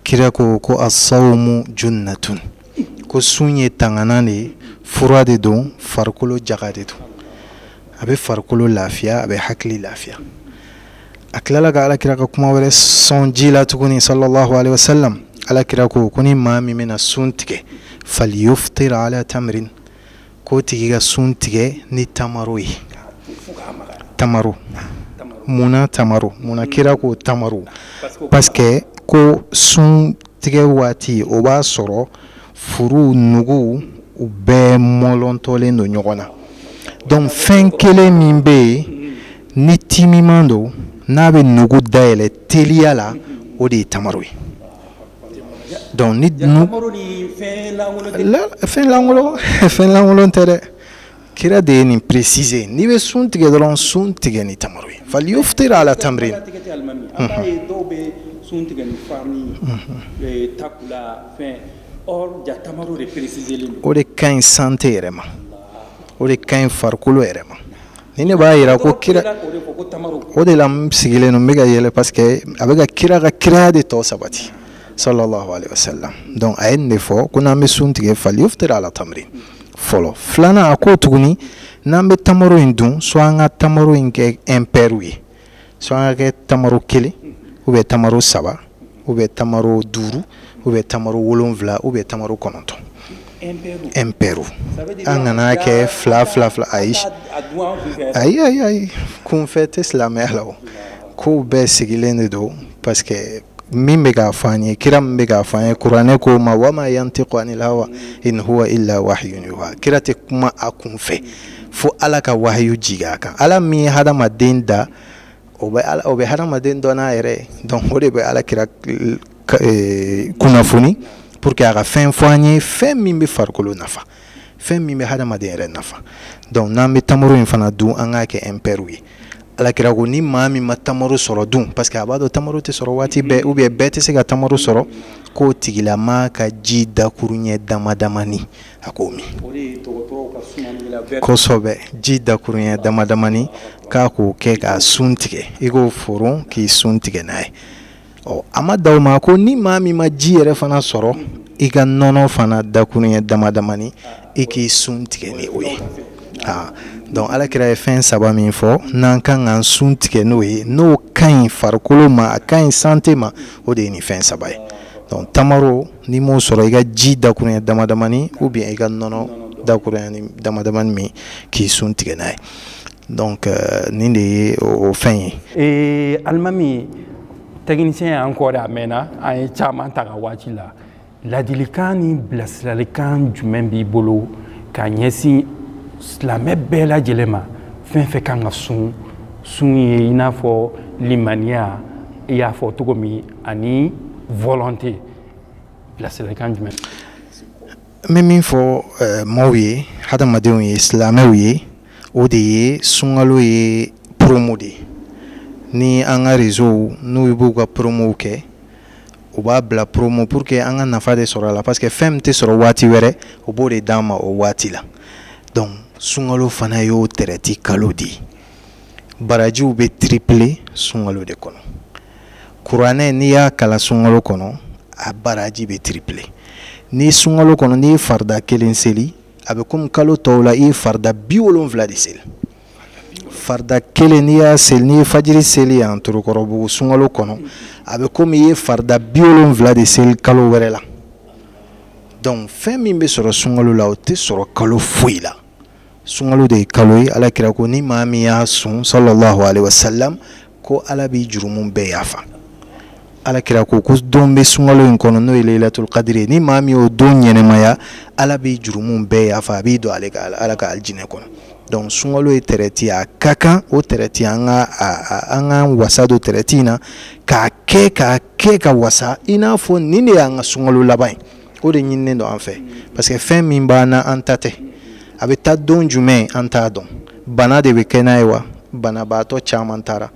kira ko ko assawumu junnatun ko sun ye tangana de ye fura de don farikolo jaga de don a bɛ farikolo lafiya a bɛ hakili lafiya a tilala ka alakira ka kuma wɛrɛ sɔn ji la tuguni sallallahu alaihi wasallam alakira ko ko ni maa min bɛna sun tigɛ faliyuftira ala tamirin k'o tigi ka sun tigɛ ni tamaro ye tamaro munna tamaro munna mm. kira ko tamaro parce que ko sun tigɛ waati o b'a sɔrɔ furu nugu u bɛɛ mɔlɔntɔlen don ɲɔgɔn na donc fɛn kelen min bɛ yen mm. ni timiman don n'a bɛ nugu dayɛlɛ teliya la o de ye tamaro ye Donc fɛn lankolon fɛn lankolon tɛ dɛ kira de ye nin préciser n'i bɛ sun tigɛ dɔrɔn sun tigɛ ni tamaro ye faliyuftira ala tamirin o de ka ɲi santé yɛrɛ ma o de ka ɲi farikolo yɛrɛ ma nin de b'a jira ko kira o de la n sigilen don n bɛ ka yɛlɛ parce que a bɛ ka kira ka kiraya de tɔ sabati sallallahu alaihi wasallam donc a ye nin de fɔ ko n'an bɛ sun tigɛ faliyuftira ala tamirin fɔlɔ filanan a ko tuguni n'an bɛ tamaro in dun soit an ka tamaro in kɛ impair ye so an k'a kɛ tamaro kelen ou bien tamaro saba ou bien tamaro duuru ou bien tamaro wolonwula ou bien tamaro kɔnɔntɔn impair an kan'a kɛ fila fila fila ayi ayi ayi ayi kunfɛ tɛ silamɛya la o kow bɛɛ sigilen de don parce que min bɛ k'a fɔ an ye kira min bɛ k'a fɔ an ye kuranɛ ko ma wama yantiqu anil hawa in huwa illa wahyun yuha kira tɛ kuma a kunfɛ fo ala ka wahayu jigin a kan ala min ye hadamaden da o bɛ ala o bɛ hadamaden dɔn n'a yɛrɛ ye donc o de bɛ ala kira eh, kunnafoni pour que a ka fɛn fɔ an ye fɛn min bɛ farikolo nafa fɛn min bɛ hadamaden yɛrɛ nafa donc n'an bɛ tamaro in fana dun an k'a kɛ impairw ye ala kira ko ni maa min ma tamaro sɔrɔ dun parce que a b'a dɔn tamaro tɛ sɔrɔ waati bɛɛ ou bien bɛɛ tɛ se ka tamaro sɔrɔ k'o tigilamaa ka ji dakuruɲɛ damadamani a k'o min kosɛbɛ ji dakurunya damadamani k'a k'o kɛ k'a sun tigɛ i k'o foron k'i sun tigɛ n'a ye ɔ a ma dan o ma ko ni maa min ma ji yɛrɛ fana sɔrɔ i ka nɔnɔ fana dakurunya damadamani i k'i sun tigɛ ni o ye aa donc ala kira ye fɛn saba min fɔ n'an kan k'an sun tigɛ n'o ye n'o ka ɲi farikolo ma a ka ɲi santé ma o de ye nin fɛn saba ye donc tamaro n'i m'o sɔrɔ i ka ji dakuruɲɛ damadamani ou bien i ka nɔnɔ dakuruɲɛ damadamani min k'i sun tigɛ n'a ye donc euh, nin de ye o fɛn ye ee alimami technicien y'an kɔ de a mɛɛnna an ye caman ta a ka waati la laadilikan ni bilasiralikan jumɛn b'i bolo ka ɲɛsin silamɛ bɛɛ lajɛlen ma fɛn fɛn kan ka sun sun ye i n'a fɔ limaniya i y'a fɔ cogo min ani volonté bilasiralikan jumɛn n bɛ min fɔ eh, maaw ye hadamadenw ye silamɛw ye o de ye sunkalo ye promo de ye ni an ka réseauw n'u b'u ka promow kɛ u b'a bila promo pour que an ka nafa de sɔrɔ a la parce que fɛn min tɛ sɔrɔ waati wɛrɛ u b'o de d'an ma o waati la donc sunkalo fana y'o tɛrɛti kalo de ye barajiw bɛ triple sunkalo de kɔnɔ kuranɛ n'i y'a kalan sunkalo kɔnɔ a baraji bɛ triple ni sunkalo kɔnɔ n'i ye farida kelen seli a bɛ komi kalo tɔw la i ye farida biwolonwula de seli farida kelen n'i y'a seli n'i ye fajiri seli yan torokɔrɔbugu sunkalo kɔnɔ a bɛ komi i ye farida biwolonwula de seli kalo wɛrɛ la donc fɛn min bɛ sɔrɔ sunkalo la o tɛ sɔrɔ kalo foyi la sunkalo de ye kalo ye ala kira ko ni maa min y'a sun sallallahu alaihi wasallam ko ala b'i jurumu bɛɛ yafa ala kira ko ko don bɛ sunkalo in kɔnɔ n'o ye layilatul kadiri ye ni maa min y'o don ɲɛnamaya ala b'i jurumu bɛɛ yafa a b'i don ale ala ka alijinɛ kɔnɔ donc sunkalo ye tɛrɛti a ka kan o tɛrɛti an k'an wasa don tɛrɛti in na k'a kɛ k'a kɛ ka wasa i n'a fɔ nin de y'an ka sunkalo laban ye o de ɲininen don an fɛ parce que fɛn min b'an na an ta tɛ a bɛ taa don jumɛn an t'a dɔn bana de bɛ kɛ n'a ye wa banabaatɔ caman taara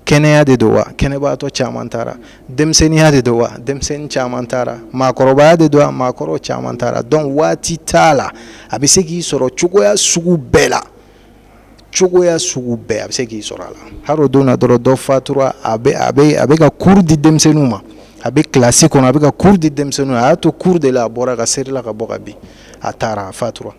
kɛnɛya de don wa kɛnɛbaatɔ caman taara denmisɛnninya de don wa denmisɛnnin caman taara maakɔrɔbaya de don wa maakɔrɔ caman taara donc waati t'a la a bɛ se k'i sɔrɔ cogoya sugu bɛɛ la cogoya sugu bɛɛ a bɛ se k'i sɔrɔ a la hali o don na dɔrɔn dɔ fatura a bɛ a bɛ a bɛ ka kuru di denmisɛnninw ma a bɛ kilasi kɔnɔ a bɛ ka kuru di denmisɛnninw a y'a to kuru de la a bɔra ka serila ka bɔ ka bin a taara a fatura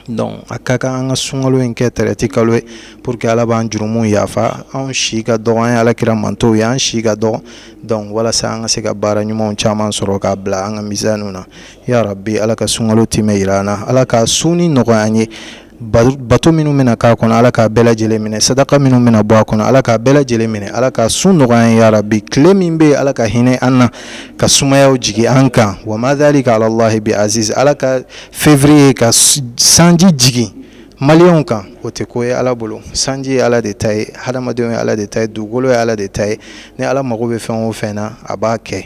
donc a ka kan an ka sunkalo in kɛ tɛrɛti kalo ye pour que ala b'an jurumuw yafa anw si ka dɔgɔ an ye ala kira mantɔnw ye an si ka dɔgɔ donc walasa an ka se ka baara ɲumanw caman sɔrɔ k'a bila an ka mizan na ya rabi ala ka sunkalo timɛ yira an na ala ka sun in nɔgɔya an ye bato minnu bɛna k'a kɔnɔ ala k'a bɛɛ lajɛlen minɛ sadaka minnu bɛna bɔ a kɔnɔ ala k'a bɛɛ lajɛlen minɛ ala ka sun nɔgɔya yarabi tile min bɛ yen ala ka hinɛ an na ka sumayaw jigin an kan wa ma dhalika ala allahi bi aziz ala ka février ka sanji jigin maliyɛnw kan o tɛ ko ye ala bolo sanji ye ala de ta ye hadamadenw ye ala de ta ye dugukolo ye ala de ta ye ni ala mago bɛ fɛn o fɛn na a b'a kɛ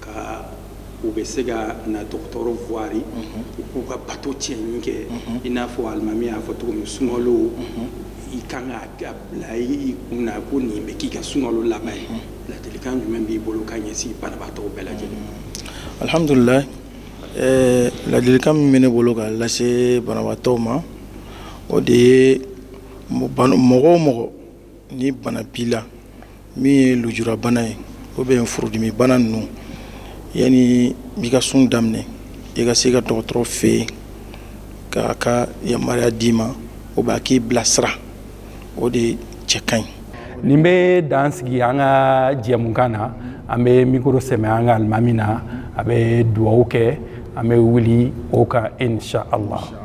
ka u bɛ se ka na dɔgɔtɔrɔ voir u k'u ka bato tiimɛni kɛ i n'a fɔ alimami y'a fɔ cogo min sunkalo i kan k'a bila i kun na ko nin bɛ k'i ka sunkalo laban ye ladilikan jumɛn b'i bolo ka ɲɛsin banabaatɔw bɛɛ lajɛlen alhamdulillah eh, ladilikan min bɛ ne bolo ka lase banabaatɔw ma o de ye mɔgɔ o mɔgɔ ni bana b'i la min ye lujurabana ye ou bien furudimi bana ninnu yanni i ka sun daminɛ i ka se ka dɔgɔtɔrɔ fɛ yen k'a ka yamaruya d'i ma ou bien a k'i bilasira o de cɛ ka ɲi nin bɛ dan sigi an ka jɛmukan na an bɛ mikoro sɛmɛ an ka alimami na a bɛ duwawu kɛ an bɛ wuli o kan insha allah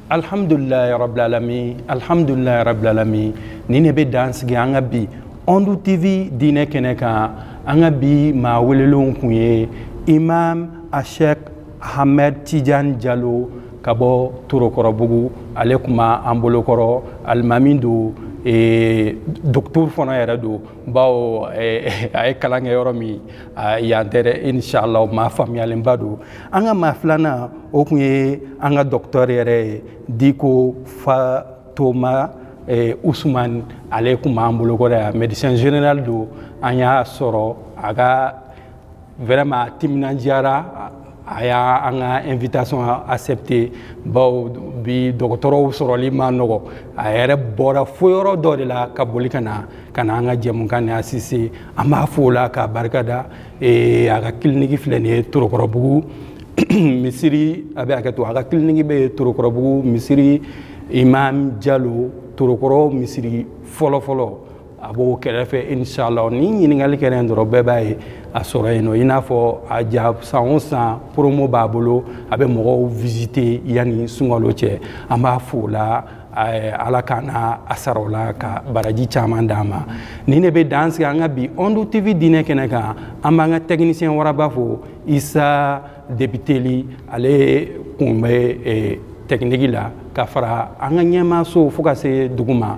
alhamdulilarabilalami alhamdulilarabilalami nin de bɛ dan sigi an ka bi ondu tv diinɛ kɛnɛ kan an ka bi maa welelenw kun ye imam ashek ahmed tijan jalo ka bɔ torokɔrɔbugu ale kun b'an bolokɔrɔ alimami don e, doktor fana yɛrɛ don bawo eh, a ye kalan kɛ yɔrɔ min yan tɛ dɛ inshallah maa faamuyalenba don an ka maa filanan o tun ye an ka dɔkitɛri yɛrɛ ye diko fatoma eh, usumani ale tun b'an bolo kɔrɔ yan médecin général don an y'a sɔrɔ a ka vraiment a timinandiyara a y'an ka invitation accepté bawo bi dɔgɔtɔrɔw sɔrɔli ma nɔgɔ a yɛrɛ bɔra fo yɔrɔ dɔ de la ka boli ka na ka na an ka jɛmukan nin assister an b'a fo o la k'a barika da e, a ka kiliniki filɛ nin ye torokɔrɔbugu misiri a bɛ hakɛ to a ka kiliniki bɛ torokɔrɔbugu misiri imam jalo torokɔrɔ misiri fɔlɔfɔlɔ a b'o kɛrɛfɛ inshallah ni ɲininkali kɛra yen dɔrɔn bɛɛ b'a ye a sɔrɔ yen nɔ i n'a fɔ a ja san o san promo b'a bolo a bɛ mɔgɔw visite yanni sunkalo cɛ an b'a fo o la eh, ala ka na a sara o la ka baraji caman d'a ma nin de bɛ dan sigi an ka bi ondu tv diinɛ kɛnɛ kan an b'an ka tɛkinisiyɛn waraba fo isa depiteli ale kun bɛ eh, tɛkiniki la ka fara an ka ɲɛmaaso fo ka se dugu ma